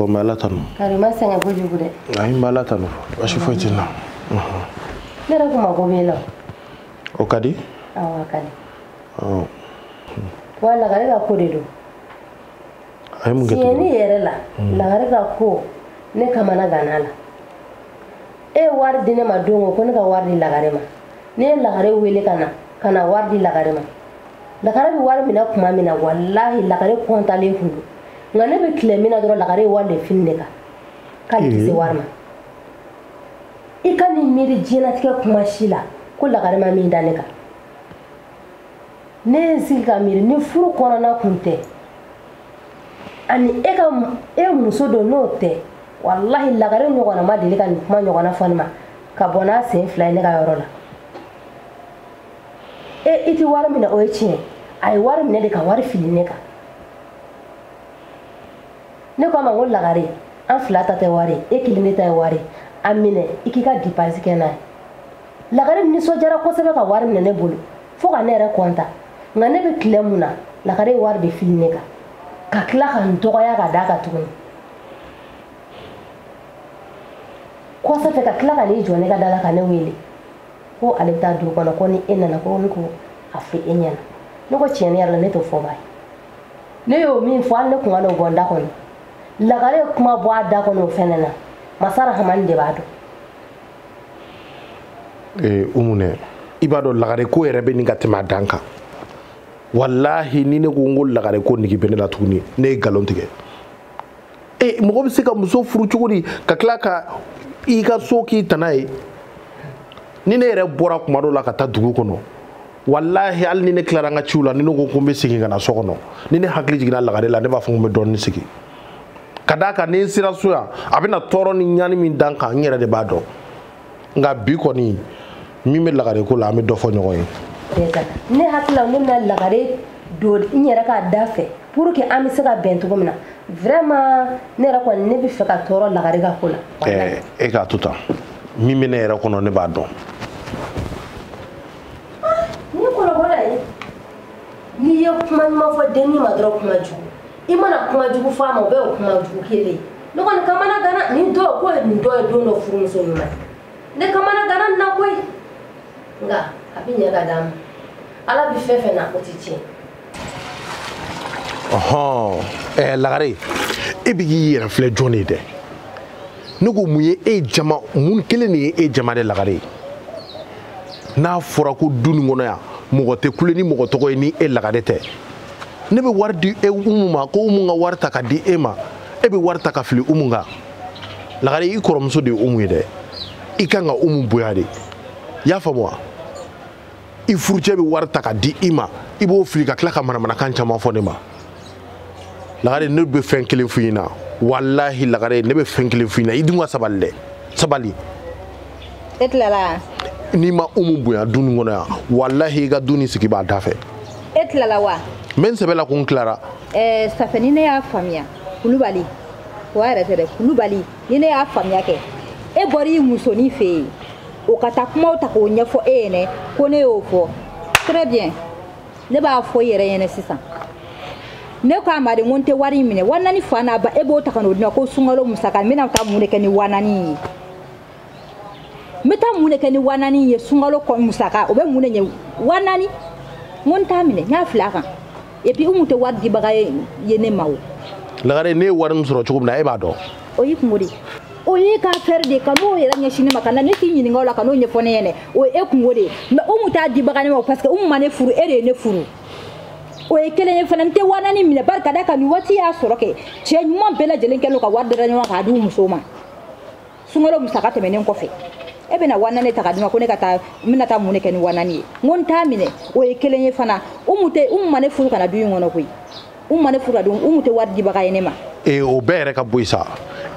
bon n bɛ ala tanu kari i ma sɛgɛn kojugu dɛ ayi n bɛ ala tanu basi foyi tɛ n na ne yɛrɛkun mago b'e la o ka di awɔ a ka di wa lagare ka ko de don a ye mun kɛ tiɲɛni yɛrɛ la hmm. lagare ka ko ne kamanaganna a la e ye wari di ne ma don o ko ne ka wari di lagare ma ne ye lagare wele ka na ka na wari di lagare ma lagare bɛ wari minɛ tuma min na walahi lagare kɔntalen tun don nka ne bɛ tile min na dɔrɔn lagare ye wari de fili ne kan k'ale tɛ se wari ma i kana miiri diɲɛlatigɛ kuma si la ko lagare ma min da ne kan ne ye n sigi ka miiri ni furu kɔnɔna kun tɛ ani e muso don n'o tɛ walahi lagare ɲɔgɔnna ma deli ka nin kuma ɲɔgɔnna fɔ ne ma ka bɔ n'a sen fila ye ne ka yɔrɔ la e i tɛ wari minɛ o ye tiɲɛ a ye wari minɛ de ka wari fili ne kan ne ko a ma ko lagare an fila ta tɛ wari e kelen de ta ye wari a minɛ i k'i ka depansi kɛ n'a ye lagare nisɔndiyara kosɛbɛ ka wari minɛ ne bolo fo ka ne yɛrɛ kɔntan nka ne bɛ tile mun na lagare ye wari de fili ne kan ka tila ka n dɔgɔya ka d'a kan tuguni kɔsa fɛ ka tila ka n'i jɔ ne ka da la ka ne wele ko ale bɛ taa dugu kɔnɔ ko ni e nana ko ne k'a fɔ e ɲɛna ne ko tiɲɛ yɛrɛ la ne t'o fɔbaa ye ne y'o min fɔ hali ne kun kan'o bɔ n da kɔnɔ lagare ye kuma bɔ a da kɔnɔ o fɛnɛ na masa rahamani de b'a dɔn ee umu nɛ i b'a dɔn lagare ko yɛrɛ bɛ ɲini ka tɛmɛ a dan kan walahi ni ne ko ko lagare ko nege bɛ ne la tuguni ne ye nkalon tigɛ e mɔgɔ bɛ se ka muso furu cogo di ka tila ka i ka so k'i tana ye ni ne yɛrɛ bɔra kuma dɔ la ka taa dugu kɔnɔ walahi hali ni ne tilara n ka ciw la ni ne ko ko n bɛ segin ka na so kɔnɔ ni ne hakili jiginna lagare la ne b'a fɔ ko n bɛ dɔɔnin sigi ka d'a kan ni n sera so yan a bɛna tɔɔrɔ ni ɲani min da n kan n yɛrɛ de b'a dɔn nka bi kɔni min bɛ lagare ko la an bɛ dɔ fɔ ɲɔgɔn ye. ne hakili la ne bɛna lagare don n yɛrɛ ka da fɛ pour que an bɛ se ka bɛn cogo min na vraiment ne yɛrɛ kɔni ne bɛ fɛ ka tɔɔrɔ lagare ka ko la. ɛɛ e k'a to tan min bɛ ne yɛrɛ kɔnɔ ne b'a dɔn. ah, ni kɔrɔbɔla ye n'i ye kuma ɲuman fɔ denni ma dɔrɔn kuma jugu i mana kuma jugu fɔ a ma o bɛɛ o kuma jugu kelen ne kɔni kamanagannen don koyi nin dun ye don dɔ furumuso ɲuman ne kamanaganna nin na koyi nka a bɛ ɲɛ ka d'a ma ala bɛ fɛn fɛn na o tɛ tiɲɛ ɔhɔn ɛɛ lagare e bɛ k'i yɛrɛ filɛ jɔn de ye dɛ ne ko mun ye e jama mun kelen de ye e jama de lagare ye n'a fɔra ko du nin kɔnɔ yan mɔgɔ tɛ kule ni mɔgɔ tɔgɔ ye ni e lagare tɛ ne bɛ wari di umu ma ko umu ka wari ta ka di e ma e bɛ wari ta ka fili umu kan lagare i kɔrɔmuso de ye umu ye dɛ i kan ka umu bonya de i y'a faamu wa. i furucɛ bɛ wari ta ka di i ma i b'o fili ka tila ka manamanakan caman fɔ ne ma lagare ne bɛ fɛn kelen f'i ɲɛna walahi lagare ne bɛ fɛn kelen f'i ɲɛna i dun ka sabali dɛ sabali e tilala n'i ma umu bonya du nin kɔnɔ yan walahi i ka du nin sigi b'a da fɛ e tilala wa n bɛ n sɛbɛ la ko n tilara eh, safi ni ne y'a faamuya kulubali o yɛrɛ tɛ dɛ kulubali ni ne y'a faamuya kɛ e bɔra i musonin fɛ yen o ka taa kumaw ta k'o ɲɛfɔ e ɲɛnɛ ko ne y'o fɔ très bien ne b'a fɔ i yɛrɛ ɲɛnɛ sisan ne ko a ma de ko n tɛ wari in minɛ wa naani fa n'a ba e b'o ta ka n'o di n ma ko sunkalo musaka n bɛna taa mun de kɛ ni wa naani in ye n bɛ taa mun de kɛ ni wa naani in ye sunkalo musaka o bɛ mun de ɲɛ wa naani n ko n t'a minɛ n y'a fili a kan et puis umu tɛ wari dibaga ye ne ma o lagare ne ye wari min sɔrɔ cogo min na e b'a dɔn o y'i kungo de o y'i ka affaire de kan'o yɛrɛ ɲɛsin ne ma kana ne t'i ɲininka o la kan'o ɲɛfɔ ne ɲɛnɛ o ye e kungo de ye mais umu t'a dibaga ne ma parce que umu ma ne furu e de ye ne furu o ye kelen ye fana n tɛ waa naani minɛ bari ka da kan nin waati y'a sɔrɔ kɛ cɛ ɲuman bɛɛ lajɛlen kɛlen ka wari dara ɲɔgɔn k'a di u musow ma sunkalo musaka tɛmɛnen kɔfɛ e bɛna wa naani ta ka di n ma ko ne ka taa n bɛna taa mun de kɛ ni wa naani ye n ko n t'a minɛ o ye kelen ye fana umu tɛ umu ma ne furu ka na du in kɔnɔ koyi umu ma ne furu ka don umu tɛ wari dibaga ye ne ma. ee o bɛɛ yɛrɛ ka bɔ yen sa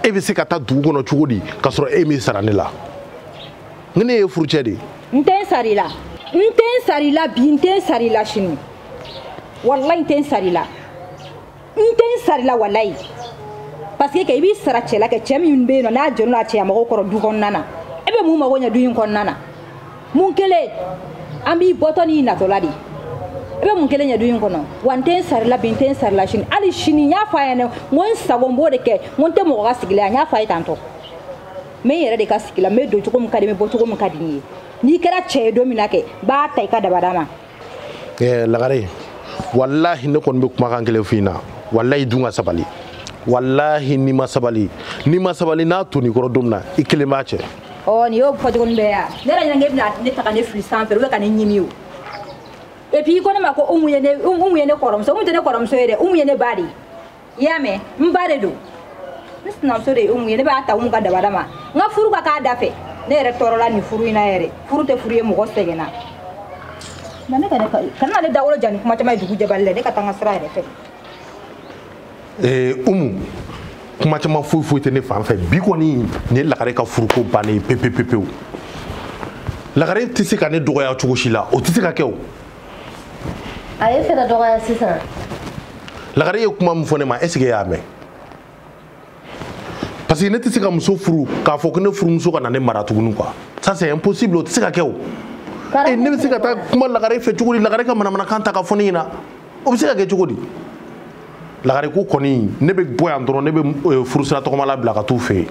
e bɛ se ka taa dugu kɔnɔ cogo di k'a sɔrɔ e m'i sara ne la n ko ne y'e furucɛ de ye. n tɛ n sara i la n tɛ n sara i la bi n tɛ n sara i la sini walayi n tɛ n sara i la. n tɛ n sara i la walayi parce que i b'i sara cɛ la kɛ cɛ min bɛ yen nɔ n'a jɔlen don a cɛya magow kɔrɔ du kɔnɔna na e bɛ mun mago ɲɛ du in kɔnɔna na mun kelen an b'i bɔtɔ n'i natɔ la de i bɛ mun kelen ɲɛ du in kɔnɔ wa n tɛ n sara i la bi n tɛ n sara i la sini hali sini n y'a fɔ a ɲɛna n ko n sago n b'o de kɛ n ko n tɛ mɔgɔ ka sigi la yan n y'a fɔ a ye tantôt n bɛ n yɛrɛ de ka sigi la n bɛ don cogo min ka di n ye n bɛ bɔ cogo min ka di n ye n'i kɛra cɛ ye don min na kɛ n b'a ta i ka dabada ma eh, lagare walahi ne kɔni bɛ kumakan kelen f'i na walahi dun ka sabali walahi n'i ma sabali n'i ma sabali n'a tonn'i kɔrɔ don min na i kelen b'a cɛ ɔ nin y'o fɔcogo nin bɛɛ ya ne yɛrɛ ɲɛna k'e bɛna ne ta ka ne fili sanfɛ ou bien ka ne ɲimi o et puis i ko ne ma ko umu ye ne umu ye ne kɔrɔmuso umu tɛ ne kɔrɔmuso ye dɛ umu ye ne ba de ye i y'a mɛn n baden don n sinamuso de ye umu ye ne b'a ta umu ka dabada ma n ka furu k'a da fɛ ne yɛrɛ tɔɔrɔla nin furu in na yɛrɛ furu tɛ furu ye mɔgɔ sɛgɛnna na ne kana ale dawolo ja ni kuma caman ye dugu jɛbali la ne ka taa n ka sira yɛrɛ fɛ ee umu kuma caman foyi foyi tɛ ne fan fɛ bi kɔni nin ye lagare ka furuko bannen ye pepepepewu lagare tɛ se ka ne dɔgɔya cogo si la o tɛ se ka kɛ o a ye fɛrɛ dɔgɔya sisan lagare ye kuma min fɔ ne ma est ce que y'a mɛn parce que ne tɛ se ka muso furu k'a fɔ ko ne furumuso ka na ne mara tuguni quoi ça c'est impossible o tɛ se ka kɛ o e ne bɛ se ka taa kuma lagare fɛ cogo di lagare ka manamanakan ta ka fɔ ne ɲɛna o bɛ se ka kɛ cogo di lagare ko kɔni ne bɛ bɔ yan dɔrɔn ne bɛ furusira tɔgɔmala bila ka t'u fɛ yen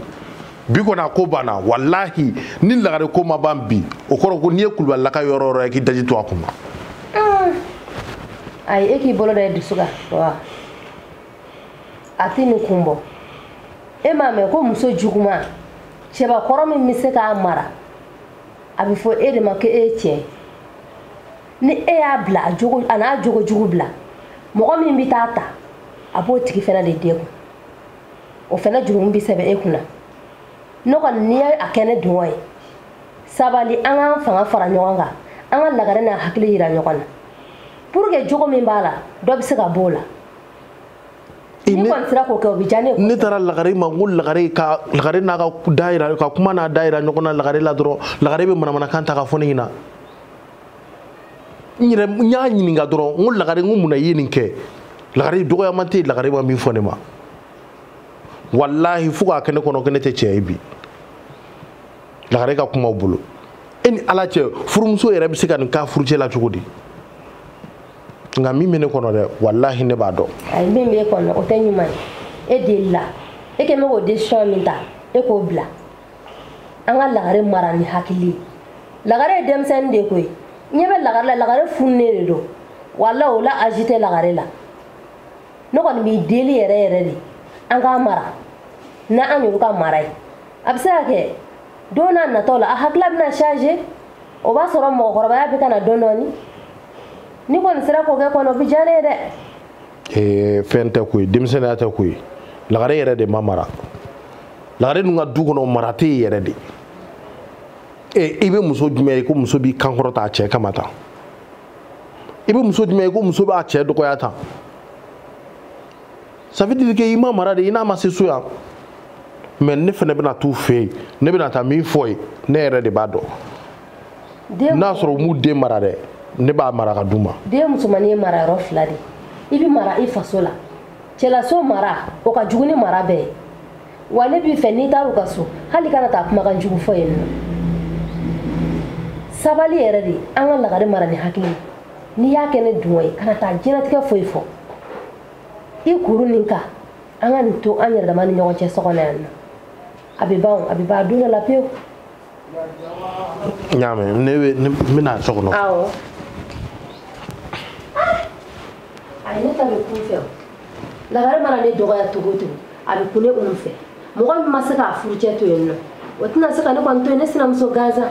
bi kɔni a ko banna walahi ni lagare ko ma ban bi o kɔrɔ ko n'i ye kulubalilaka yɔrɔ o yɔrɔ ye k'i daji to a kun na ah. ayi e k'i bolo da e dusu kan wa a tɛ nin kun bɔ e m'a mɛn ko muso juguman cɛbakɔrɔ min bɛ se k'a mara a bɛ fɔ e de ma ko e ye cɛ ye ni e y'a bila a n'a jogo jugu bila mɔgɔ min bɛ t'a ta a b'o tigi fana de degun o fana jurumu bɛ sɛbɛn e kunna ne kɔni n'i ye a kɛ ne dungɔ ye sabali an k'an fanga fara ɲɔgɔn kan an ka lagare n'a hakili yira ɲɔgɔn na pour que jogo min b'a la dɔ bɛ se ka b'o la n'i kɔni sera k'o kɛ o bɛ diya ne ye ne taara lagare ma ko lagare ka lagare n'a ka da yira ka kuma n'a da yira ɲɔgɔn na lagare la dɔrɔn lagare bɛ manamanakan ta ka fɔ ne ɲɛna n yɛrɛ n y'a ɲininka dɔrɔn n ko lagare n ko mun na i ye nin kɛ lagare dɔgɔyama tɛ yen lagare ma min fɔ ne ma walahi fo k'a kɛ ne kɔnɔ ko ne tɛ cɛ ye bi lagare ka kumaw bolo e ni ala cɛ furumuso yɛrɛ bɛ se ka nin k'a furucɛ la cogo di nka min bɛ ne kɔnɔ dɛ walahi ne b'a dɔn. ayi min b'e kɔnɔ o tɛ ɲuman ye e delila e kɛ mɛ k'o décision min ta e k'o bila. an ka lagare mara ni hakili ye lagare ye denmisɛnnin de koyi ɲɛ bɛ lagare la lagare fununen de don wala o la âge tɛ lagare la ne kɔni b'i deli yɛrɛ yɛrɛ de an k'a mara n'an y'olu ka mara ye a bɛ se ka kɛ don n'a nataw la a hakilila bɛna changer o b'a sɔrɔ mɔgɔkɔrɔbaya bɛ ka na dɔɔnin dɔɔnin n'i kɔni sera k'o kɛ kɔni o bɛ diya ne ye dɛ ee fɛn tɛ koyi denmisɛnninya tɛ koyi lagare yɛrɛ de ma mara lagare dun ka du kɔnɔ mara tɛ yen yɛrɛ de ee i bɛ muso jumɛn ye ko muso b'i kankɔrɔ ta a cɛ kama tan i bɛ muso jumɛn ye ko muso b'a cɛ dɔgɔya tan ça veut dire que i ma mara de i n'a ma se so yan mais ne fana bɛna t'u fɛ yen ne bɛna taa min fɔ yen ne yɛrɛ de b'a dɔn n'a sɔrɔ u m'u den mara dɛ ne b'a mara ka d'u ma den musomannin ye mara yɔrɔ fila de i bɛ mara i faso la cɛlaso mara o ka jugu ni mara bɛɛ ye wa ne b'i fɛ n'i taar'u ka so hali kana taa kumakan jugu fɔ yen nɔ sabali yɛrɛ de an ka lagare mara ni hakili n'i y'a kɛ ne dungɔ ye kana taa diɲɛlatigɛ foyi fɔ i kuru nin kan an ka nin to an yɛrɛ dama ni ɲɔgɔn cɛ so kɔnɔ yan nɔ a bɛ ban a bɛ ban don dɔ la pewu n y'a mɛn ne we ne bɛna so kɔnɔ awɔ ayi ne ta bɛ kun fɛ o lagare mana ne dɔgɔya cogo o cogo a bɛ kun ne kun fɛ mɔgɔ min ma se k'a furucɛ to yen nɔ o tɛna se ka ne kɔni to yen ne sinamuso gansan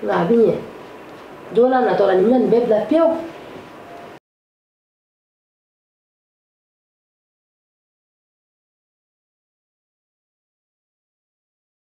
nka a bɛ ɲɛ don n'a natɔ la nin bɛna nin bɛɛ bila pewu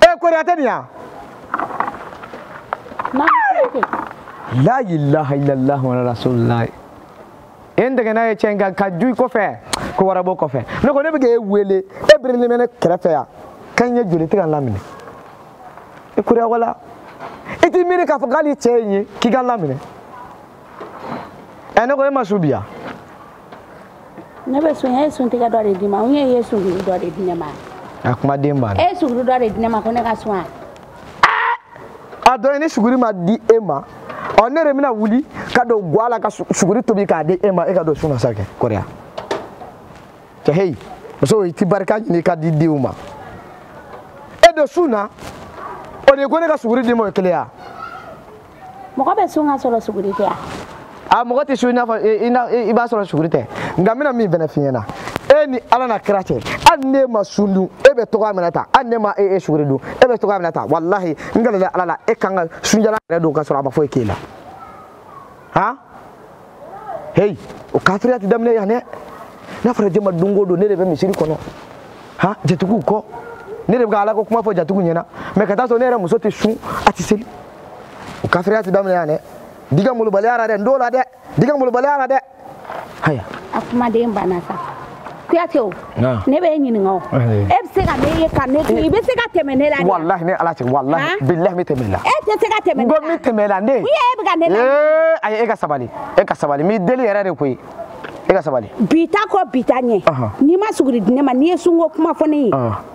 e eh, kori a tɛ nin yan la ilaha illallah wa rasulullah e n dɛgɛna ye cɛn kan ka ju i kɔfɛ ko wara b'o kɔfɛ ne ko ne bɛ k'e wele e birilen bɛ ne kɛrɛfɛ yan ka n ye joli tɛ ka n laminɛ i kura wala i t'i miiri k'a fɔ k'ale cɛ ye n ye k'i ka n laminɛ ɛ ne ko e ma sun bi wa ne bɛ sun e ye suntigɛ dɔ de di n ma n ye ye suguri dɔ de di ne ma a kumaden banna e ye suguri dɔ de di ne ma ko ne ka sun a a dɔn ni suguri ma di e ma ɔ ne de bɛna wuli ka don gwa la ka suguri tobi k'a di e ma e ka don sun na sa kɛ kɔrɔya cɛ heyi muso i tɛ barika ɲini ka di denw ma e don sun na o de ko ne ka suguri d'i ma o ye kelen ya mɔgɔ bɛ sun ka sɔrɔ suguri tɛ a a mɔgɔ tɛ sun i n'a fɔ i b'a sɔrɔ suguri tɛ nka n bɛna min fana f'i ɲɛna e ni ala n'a kira cɛ hali n'e ma sun dun e bɛ to ka minɛ ta hali n'e ma e e suguri dun e bɛ to ka minɛ ta walahi n kalilen ala la e kan ka sun jalan yɛrɛ don ka sɔrɔ a ma foyi k'e la han heyi o kafiriya tɛ daminɛ yan dɛ n'a fɔra juma don o don ne de bɛ misiri kɔnɔ han jatigiw ko ne de bɛ ka ala ko kuma fɔ jatigiw ɲɛna mɛ ka taa sɔrɔ ne yɛrɛ muso tɛ sun a tɛ seli o kafiriya tɛ daminɛ yan dɛ n t'i ka malobaliya la dɛ n t'o la dɛ n t'i ka malobaliya la dɛ haya a kumaden banna sa kuyate o ah. ne b'i ɲininka o eh. e bɛ se ka ne ye ka ne to i bɛ se ka tɛmɛ ne la de walahi ne ni ala cɛ walahi ah. bilahi n bɛ tɛmɛ i la e tɛ se ka tɛmɛ ne la n ko n bɛ tɛmɛ i la ne u ye e bɛ ka ne la ee ayi e ka sabali e ka sabali n b'i deli yɛrɛ de koyi e ka sabali bi ta kɔ bi ta ɲɛ n'i ma suguri di ne ma n'i ye sunko kuma fɔ ne ye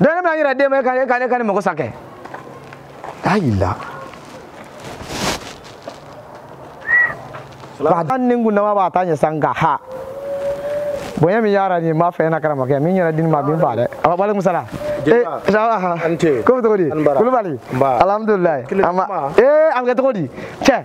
dɔn ne bɛna yɛrɛ den ma e ka e ka ne ka ne mago sa kɛ ayi la ba ta ni kun dama b'a ta ɲɛ san nka ha bonya min y'a ɲɛ n b'a fɛ e na karama kɛ min yɛrɛ di ne ma a bɛ n faa dɛ walekumu salamu ko bɛ cogo di kulubali alhamdulilayi a ma ee a bɛ kɛ cogo di cɛ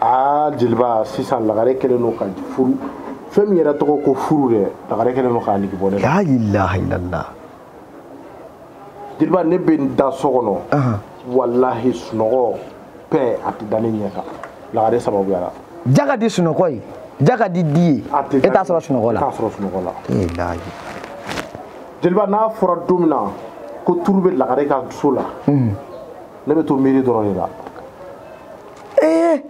aa jeliba sisan lagare kɛlen don ka furu fɛn min yɛrɛ tɔgɔ ko furu dɛ lagare kɛlen don k'a nege bɔ ne la ilahilallah jeliba ne bɛ n da so kɔnɔ walahi sunɔgɔ pɛ a tɛ da ne ɲɛ kan lagare sababuya la ja ka di sunɔgɔ ye ja ka di di ye e t'a sɔrɔ sunɔgɔ la t'a sɔrɔ sunɔgɔ la ilahi jeliba n'a fɔra don min na ko turu bɛ lagare ka so la ne bɛ to miiri dɔrɔn de la ee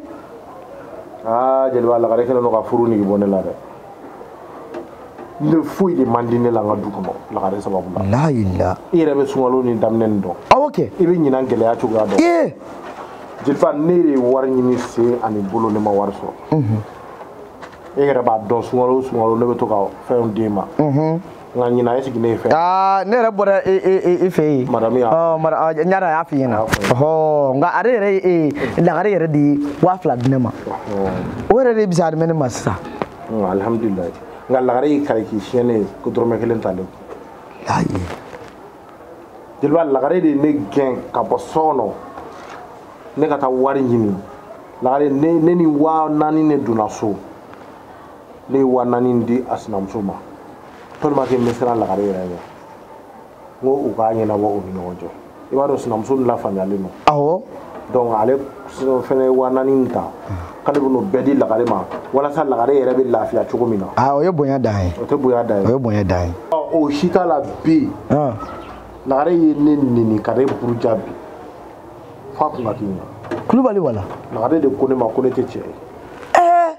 aa jeliba lagare kɛlen don ka furu nege bɔ ne la dɛ ne foyi de man di ne la n ka du kɔnɔ lagare sababu la la ila i yɛrɛ bɛ sunkalo nin daminɛni dɔn awɔ kɛ i bɛ ɲinan gɛlɛya cogoya dɔn ee jeliba ne ye wari ɲini sen ani bolo ne ma wari sɔrɔ e yɛrɛ b'a dɔn sunkalo o sunkalo ne bɛ to ka fɛnw d'e ma nka ɲinan e sigi ne fɛ aa ne yɛrɛ bɔra e e e, e fɛ yen madame y'a ɔ ɲara ɔ n y'a dɔn a y'a f'i ɲɛna ɔhɔ nka ale yɛrɛ ye e ye lagare yɛrɛ de ye waa fila di ne ma o yɛrɛ de bisa ne ma sisan alihamudulilayi nka lagare y'i kali k'i siɲɛ ne ye ko dɔrɔmɛ kelen t'ale ayi jeliba lagare de ye ne gɛn ka bɔ so kɔnɔ ne ka taa wari ɲini lagare ne ni waa naani ne donna so ne ye waa naani in di a sinamuso ma tellement que n bɛ siran lagare yɛrɛ ɲɛ n ko u k'a ɲɛnabɔ u ni ɲɔgɔn cɛ i b'a dɔn sinamuso nin lafaamuyalen don awɔ donc ale fɛnɛ ye waa naani in ta k'ale bɛn'o bɛɛ di lagare ma walasa lagare yɛrɛ bɛ lafiya cogo min na ah, o ye bonya dan ye o tɛ bonya dan ye o ye bonya dan ye o si t'a la bi lagare ye ne neni ka ne buruja bi fa kun ka kɛnɛ kulubali wala lagare de ko ne ma ko ne tɛ cɛ ye eh!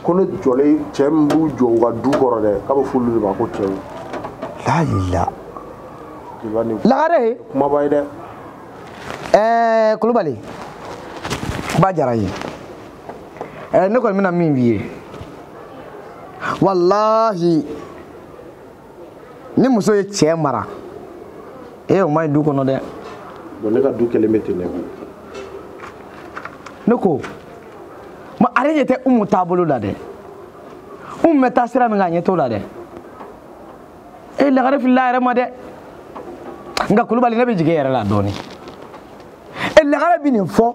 ko ne jɔlen cɛ min b'u jɔ u ka du kɔrɔ dɛ k'a bɛ f'olu de ma ko cɛw layila lagare kumaba ye dɛ eh, kulubali ba diyara n ye eh, ne kɔni bɛna min f'i ye walahi ni muso ye cɛ mara ee o ma ɲi du kɔnɔ dɛ bon ne ka du kɛlen bɛ ten ne bolo ne ko ma ale ɲɛ tɛ umu taabolo la dɛ umu bɛ taa sira min kan a ɲɛ t'o la dɛ e lagare filila a yɛrɛ ma dɛ nka kulubali ne bɛ jigin e yɛrɛ la dɔɔnin e lagare bɛ nin fɔ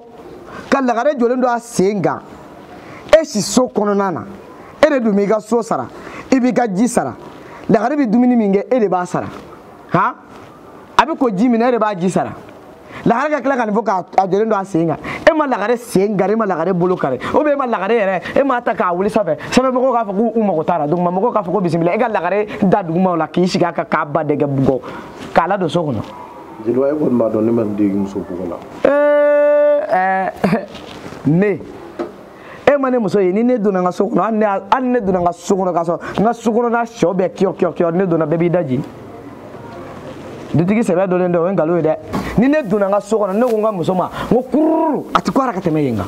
ka lagare jɔlen don a sen kan e si so kɔnɔna na e de dun b'i ka so sara i b'i ka ji sara lagare bɛ dumuni min kɛ e de b'a sara han a bɛ ko ji min na e de b'a ji sara lagare ka tila ka nin fɔ k'a jɔlen don a sen kan e ma lagare sen kari e ma lagare bolo kari ou bien e ma lagare yɛrɛ e m'a ta k'a wuli sanfɛ sanfɛ mɔgɔw k'a fɔ k'u mago t'a la duguma mɔgɔw k'a fɔ ko bisimila e ka lagare da duguma la k'i sigi a kan k'a ba dɛgɛ bugɔ k'a ladon so kɔnɔ jeliba e kɔni b'a dɔn ne ma n degi muso bugɔ la eh, eh, ne e ma ne muso ye ni ne donna n ka so kɔnɔ hali ne donna n ka so kɔnɔ k'a sɔrɔ n ka so kɔnɔna sɛw bɛ kiyɔ kiyɔ kiyɔ ne donna bɛɛ b'i daji dutigi sɛbɛ dɔlen dɛ o ye nkalon ye dɛ ni ne donna n ka so kɔnɔ ne ko n ka muso ma n ko kururu a ti ko ara ka tɛmɛ yen kan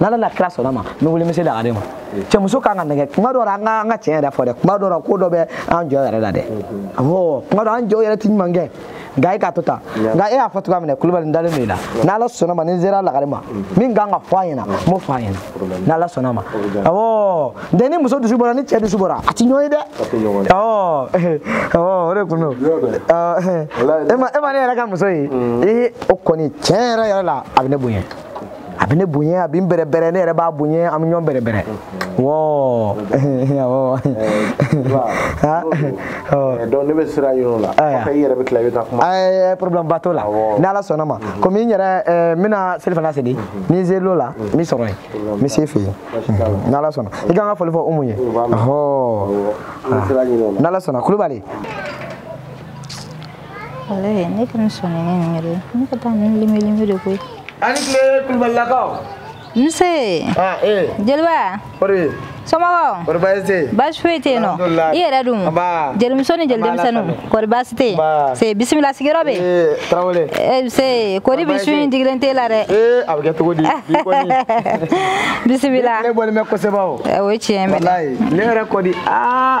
n'ala n'a kira sɔnna ma n bɛ wuli n bɛ se lagare ma cɛmuso kan ka nɛgɛ kuma dɔ la an ka an ka tiɲɛ yɛrɛ fɔ dɛ kuma dɔ la ko dɔ bɛ an cɛw yɛrɛ la dɛ awɔ kuma dɔ an cɛw yɛrɛ ti ɲuman kɛ nka e k'a to tan nka e y'a fɔ cogoya min na kulubali n dalen don i la n'ala sɔnna ma ni n sera lagare ma min kan ka fɔ a ɲɛna n b'o fɔ a ɲɛna n'ala sɔnna ma awɔ ntɛ ni muso dusu bɔra ni cɛ dusu bɔra a ti ɲɔgɔn ye dɛ awɔ awɔ o de kun don e ma ne yɛrɛ ka muso ye ee o kɔni tiɲɛ yɛrɛ yɛrɛ la a bɛ ne bonya a bɛ ne bonya a bɛ n bɛrɛbɛrɛ ne yɛrɛ b'a bonya an bɛ ɲɔgɔn bɛrɛbɛrɛ wɔɔ awɔ donc ne bɛ sira yɔrɔ la kɔfɛ i yɛrɛ bɛ tila i bɛ taa kuma ɛɛ problème ba t'o la ni ala sɔnna ma komi n yɛrɛ n bɛna selifana seli ni n ser'o la n b'i sɔrɔ yen n bɛ se i fɛ yen ni ala sɔnna i ka n ka foli fɔ umu ye ɔhɔɔ ni ala sɔnna kulubali walayi ne kɔni sɔnnen ne nin yɛrɛ ne ka taa nin lemɛlemɛ de koyi a ni tile kulubalilakaw nse ah, eh. jeliba kɔri somɔgɔw kɔri baasi tɛ yen baasi foyi tɛ yen nɔ i yɛrɛ dun jelimuso ni jeli denmisɛnninw kɔri baasi tɛ yen nse bisimila sigiyɔrɔ bɛ eh, tarawele eh, nse kɔri bi su in digilen t'e la dɛ a bɛ kɛ cogo di bisimila ne bɔlen bɛ kosɛbɛ o o ye tiɲɛ ye ne yɛrɛ kɔni aa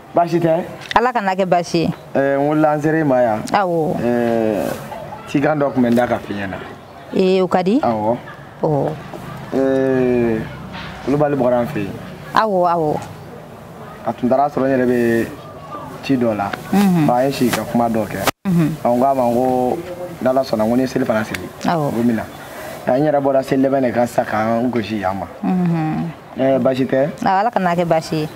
baasi tɛ ala kana kɛ baasi ye eh, n wulila n sera i ma yan awɔ eh, cikan dɔ tun bɛ n da ka f'i ɲɛna ee eh, o ka di awɔ oh. kulubali bɔra an fɛ yen awɔ awɔ a tun taara a sɔrɔ n yɛrɛ bɛ ci dɔ la mhm. a y'i sigi ka kuma dɔ kɛ mhm. n ko a ma ko n'ala sɔnna ko ni selifana seli ko n bɛ na n yɛrɛ bɔra seli labɛn de kan sisan ka n kunsin yan ma mhm. Ɛɛ baasi tɛ ala kana kɛ baasi ye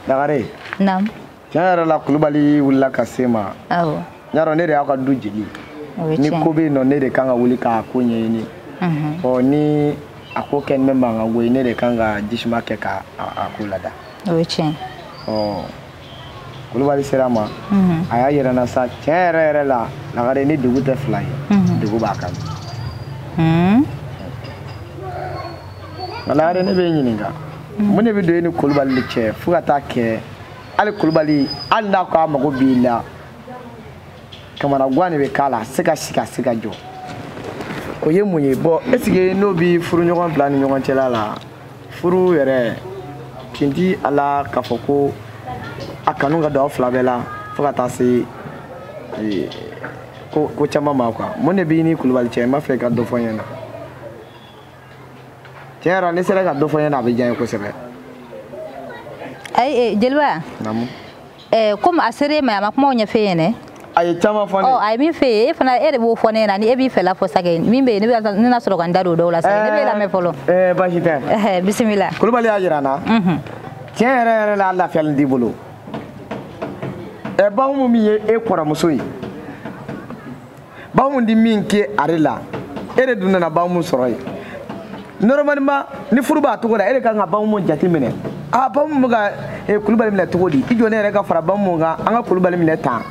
lagare naamu tiɲɛ yɛrɛ la kulubali wulila ka se n ma awɔ y'a dɔn ne de y'aw ka du jeli ni ko bɛ yen nɔ ne de kan ka wuli k'a ko ɲɛɲini ɔ ni a ko kɛlen bɛ mankan ko ye ne de kan ka jisuma kɛ k'a ko lada o ye tiɲɛ ɔ kulubali sera n ma mhm. a y'a yira n na sa tiɲɛ yɛrɛ yɛrɛ la lagare ni dugu tɛ fila ye mhm. degun b'a kan mhm. nka lagare ne b'i ɲininka mun de bɛ don e ni kulubali de cɛ fo ka taa kɛ hali kulubali hali n'a ko a mago b'i la kamanagwan de bɛ k'a la a se ka sigi a se ka jɔ o ye mun ye bon est-ce que n'o bɛ furuɲɔgɔn fila ni ɲɔgɔn cɛla la furu yɛrɛ tinti ala k'a fɔ ko a kanu ka don aw fila bɛɛ la fo ka taa se eh, ko ko caman ma quoi mun de b'i ni kulubali cɛ n b'a fɛ ka dɔ fɔ n ɲɛna tiɲɛ yɛrɛ la n'i sera ka dɔ fɔ n ɲɛna a bɛ diya n ye kosɛbɛ ayi eh, jeliba naamu eh, comme a ser'e ma a ma kumaw ɲɛf'e ye dɛ a ye caman fɔ ne oh, a ye min f'e ye e fana e de b'o fɔ ne ɲɛna ni e b'i fɛla fɔ sake min bɛ yen ne na sɔrɔ ka n da don o dɔw la sake ne b'e lamɛn fɔlɔ eh, basi tɛ eh, bisimila kulubali y'a jira n na mhm. tiɲɛ yɛrɛ yɛrɛ la a lafiyalen t'i bolo ɛ bahumu min ye e kɔrɔmuso ye bamu di min kɛ ale la e de dun nana bamu sɔrɔ yen normalement ni furu b'a cogo la e de kan ka bamu jate minɛ a bamu bɛ ka e, kulubali minɛ cogo di i jɔ ne yɛrɛ ka fara bamu kan an ka kulubali minɛ tan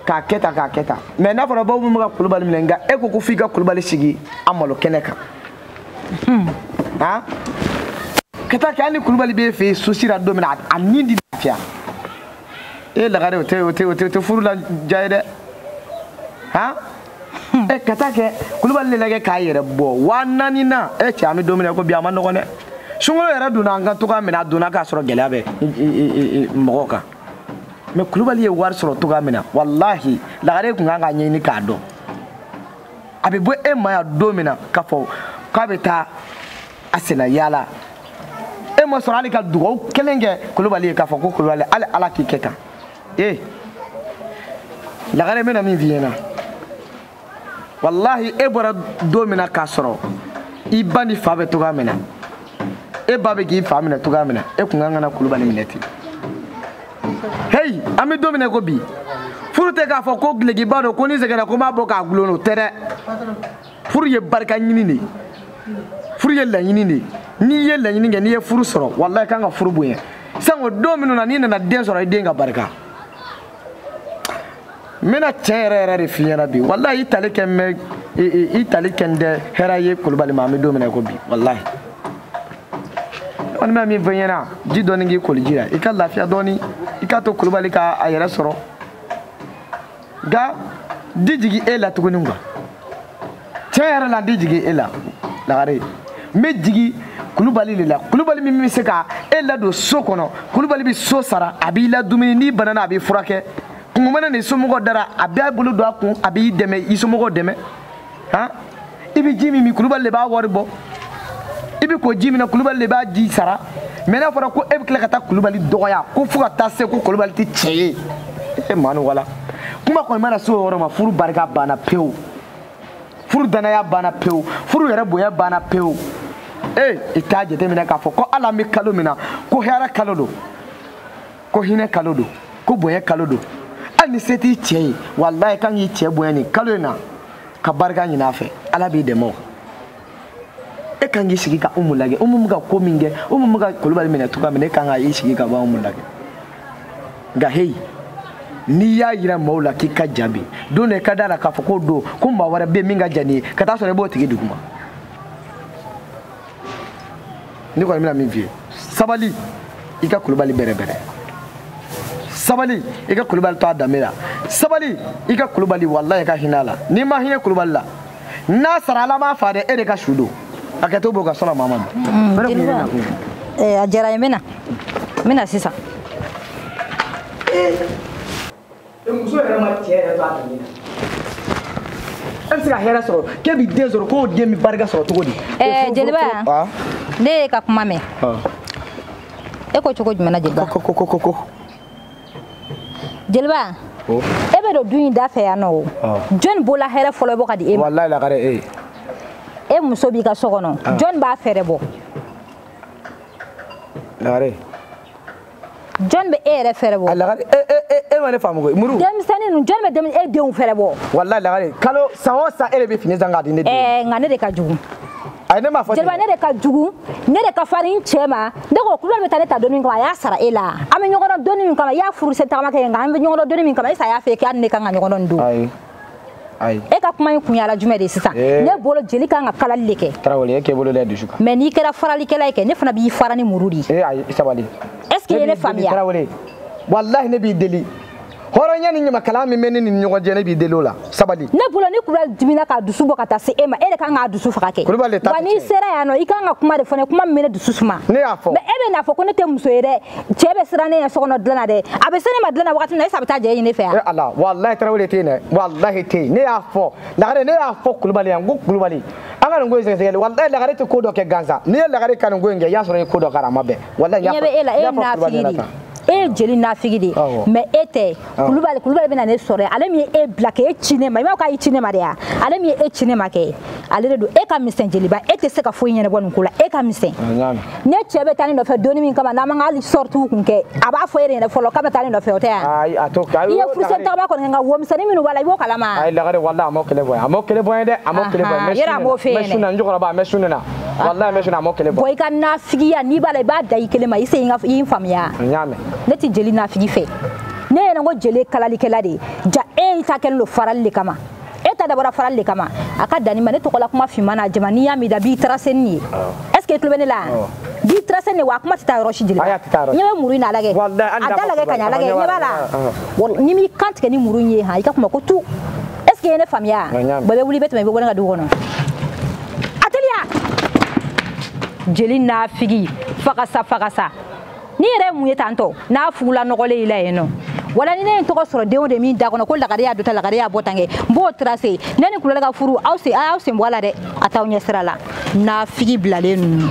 k'a kɛ tan k'a kɛ tan mais n'a fɔra bamu bɛ ka kulubali minɛ nka e ko ko f'i ka kulubali sigi a malo kɛnɛ kan hmm. han ka taa kɛ hali ni kulubali b'e fɛ yen sosi la don min na a ni ti lafiya e lagare o tɛ furu la diya ye dɛ han ɛ ka taa kɛ kulubali de lajɛ k'a yɛrɛ bɔ waa naani na ɛ cɛ an bɛ don min na ko bi a ma nɔgɔn dɛ sunkalo yɛrɛ donna an kan cogoya min na a donna k'a sɔrɔ gɛlɛya bɛ mɔgɔw kan mais kulubali ye wari sɔrɔ cogoya min na walahi lagare tun kan k'a ɲɛɲini k'a dɔn a bɛ bɔ e ma yan don min na k'a fɔ k'a bɛ taa a senna yaala e ma sɔrɔ hali ka dugawu kelen kɛ kulubali ye k'a fɔ ko kulubali hali ala k'i kɛ tan ee lagare n bɛna min f'i ɲɛna walahi e bɔra don min na k'a sɔrɔ i ba n'i fa bɛ cogoya min na e ba bɛ k'i fa minɛ cogoya min na e kun ka kan ka na kulubali minɛ ten heyi an bɛ don min na ko bi furu tɛ k'a fɔ ko dulokiba don ko ni n sɛgɛnna ko n b'a bɔ k'a gulon o tɛ dɛ furu ye barika ɲini de ye furu ye laɲini de ye n'i ye laɲini kɛ n'i ye furu sɔrɔ walayi i kan ka furu bonya sango don minnu na n'i nana den sɔrɔ i den ka barika n bɛna tiɲɛ yɛrɛ yɛrɛ de f'i ɲɛna bi walayi i tali kɛlen bɛ i tali kɛlen tɛ hɛrɛ ye kulubali ma an bɛ don min na i ko bi walayi n kɔni bɛ min fɔ i ɲɛna ji dɔɔni k'i koliji la i ka lafiya dɔɔni i k'a to kulubali ka a yɛrɛ sɔrɔ nka n tɛ jigi e la tuguni quoi tiɲɛ yɛrɛ la n tɛ jigi e la lagare n bɛ jigi kulubali de la kulubali min bɛ se ka e ladon so kɔnɔ kulubali bɛ so sara a b'i la dumuni n'i banana a b'i furakɛ kunko mana n'i somɔgɔw da ra a b'a bolo don a kun a b'i dɛmɛ i somɔgɔw dɛmɛ han i bɛ ji min min kulubali de b'a wari bɔ i bɛ ko ji min na kulubali de b'a ji sara mais n'a fɔra ko e bɛ tila ka taa kulubali dɔgɔya ko fo ka taa se ko kulubali tɛ cɛ ye e maa ni wala kuma kɔni mana se o yɔrɔ ma furu barika banna pewu furu danaya banna pewu furu yɛrɛ bonya banna pewu ee i t'a jateminɛ k'a fɔ ko hali an bɛ kalo min na ko hɛrɛ kalo don ko hinɛ kalo don ko bonya kalo don hali ni se t'i cɛ ye walayi i kan k'i cɛ bonya nin kalo in na ka barika ɲini a fɛ ala b'i dɛmɛ o e kan k'i sigi ka umu lajɛ umu bɛ ka ko min kɛ umu bɛ ka kulubali minɛ cogoya min na e kan ka i sigi ka bɔ umu lajɛ nka heyi n'i y'a yira maaw la k'i ka jan bi don dɔ i ka d'a la k'a fɔ k'o dɔn ko maa wɛrɛ bɛ yen min ka jan n'i ye ka t'a sɔrɔ i b'o tigi duguma ne kɔni bɛna min f'i ye sabali i ka kulubali bɛrɛbɛrɛ sabali i ka kulubali to a danbe la sabali i ka kulubali walayi i ka hinɛ a la n'i ma hinɛ kulubali la n'a sara ala m'a faga dɛ e de ka su don a kɛ to b'o ka sɔrɔ maa ma mm, eh, a diyara n ye n bɛna n bɛna sisan eh. muso yɛrɛ ma cɛ yɛrɛ to a danbe la e bɛ se ka hɛrɛ sɔrɔ k'e bɛ den sɔrɔ k'o den bɛ barika sɔrɔ cogo di. ɛɛ jeliba ah. ne y'e ka kuma mɛn ah. e ko cogo jumɛn na jeliba. ko ko ko ko. jeliba oh. e bɛ don du in da fɛ yan nɔ o ah. jɔni b'o la hɛrɛ fɔlɔ bɔ k'a di e ma. walayi lagare e ye. e muso b'i ka so kɔnɔ jɔni b'a fɛɛrɛ bɔ. lagare. jɔn bɛ e yɛrɛ fɛɛrɛ bɔ. a lagare e e e e ma ne faamu koyi muru. denmisɛnnin ninnu jɔn bɛ denmisɛn e denw fɛɛrɛ bɔ. walayi lagare kalo san o san e de bɛ fini san k'a di ne den. ɛɛ nka ne de ka jugu. ayi ne m'a fɔ ten. jeliba ne de ka jugu ne de ka farin cɛ ma ne ko kulubali bɛ taa ne ta donni min kama a y'a sara e la an bɛ ɲɔgɔn dɔn donni min kama i y'a furu sen tagama kɛ nka an bɛ ɲɔgɔn dɔn donni min kama est ce que a y'a f'i ye k'a ni ne ka kan ka ɲɔgɔn dɔn nin don. ayi. e ka kuma in kun yala jumɛn de ye sisan eh. ne bolo jeli kan ka kalali de kɛ tarawele e k'e bolo da dusu kan mais n'i kɛra faralikɛla ye kɛ ne fana b'i fara ni muru de ye eh, ayi sabali est ce que i ye ne faamuya tarawele walahi ne b'i deli hɔrɔnya ni ɲamakala min bɛ ne ni ɲɔgɔn cɛ ne b'i deli o la sabali ne bolo ni kulubali dimina k'a dusu bɔ ka taa se e ma e de kan k'a dusu faga kɛ wa n'i sera yan nɔ i kan ka kuma de fɔ ne kuma min bɛ ne dusu suma ne y'a fɔ mais e bɛn'a fɔ ko ne tɛ muso ye dɛ cɛ bɛ siran ne ɲɛ so kɔnɔ dilan na dɛ a bɛ se ne ma dilan na wagati min na est ce a bɛ taa jeli nin fɛ wa. ala walahi tarawele tiɲɛ dɛ walahi tiɲɛ ne y'a fɔ lagare ne y'a fɔ kulubali ye n ko kulubali an ka nin ko in sɛgɛsɛgɛli walahi lagare tɛ ko dɔ kɛ gansan n'i ye lagare ka nin ko in kɛ i y'a sɔrɔ i ye ko dɔ kɛ a ma bɛn walahi n y'a fɔ kulubali ɲɛna tan. e ye jeli nafigi de ye mais e tɛ kulubali kulubali bɛna ne sɔrɔ ale min ye e bila k'e ci ne ma i b'a fɔ k'a y'i ci ne ma de ya ale min ye e ci ne ma kɛ ale de don e ka misɛn jeliba e tɛ se ka foyi ɲɛnabɔ nin ko la e ka misɛn ne cɛ bɛ taa ne nɔfɛ doni min kama n'an man hali sɔritiw kun kɛ a b'a fɔ e de ɲɛna fɔlɔ k'a bɛ taa ne nɔfɛ o tɛ yan i ye furusɛn tagaba kɔni kɛ nka wo misɛnnin minnu b'a la i b'o kalama a ye lagare walayi a m'o kɛlɛ bɔ yan a m'o kɛlɛ bɔ yan dɛ a m'o kɛlɛ bɔ yan yɛrɛ a m'o fɛ yen dɛ n bɛ sun na n jɔkɔrɔba a n bɛ sun na walayi n bɛ sun na a m'o kɛlɛ bɔ yan i ka nafigiya n'i b'a la i b'a da i kelen ma i se i n faamuya n y'a mɛn ne tɛ jeli nafigi fɛ ne yɛrɛ ko jeli ye kalalikɛla de ye ja e ta kɛlen don farali de kama e ta dabɔra farali de kama a ka dan n'i ma ne tɔgɔla kuma finman na jama n'i y'a min da b'i tarasenni ye est ce que i tulo bɛ ne la yan b'i tarasenni wa a kuma tɛ taa yɔrɔ si jeli i ɲɛ bɛ muru in na a lagɛ a da lagɛ ka ɲɛ a lagɛ ɲɛ b'a la ni n m'i kan tigɛ ni muru in ye han i ka kuma ko tu est ce que i ye ne faamuya bɛɛ bɛ wuli i bɛ tɛmɛ i bɛ bɔ ne ka du kɔnɔ a teliya jeli nafigi fagasa fagasa nin yɛrɛ ye mun ye tantɔ n'a fugula nɔgɔlen i la yen nɔ wala ni ne ye tɔgɔ sɔrɔ den o den min da kɔnɔ ko lagare y'a don tan lagare y'a bɔ tan kɛ n b'o trase ne ni kulubali ka furu aw se a y'aw sen bɔ a la dɛ a t'aw ɲɛ sira la nafigi bilalen ninnu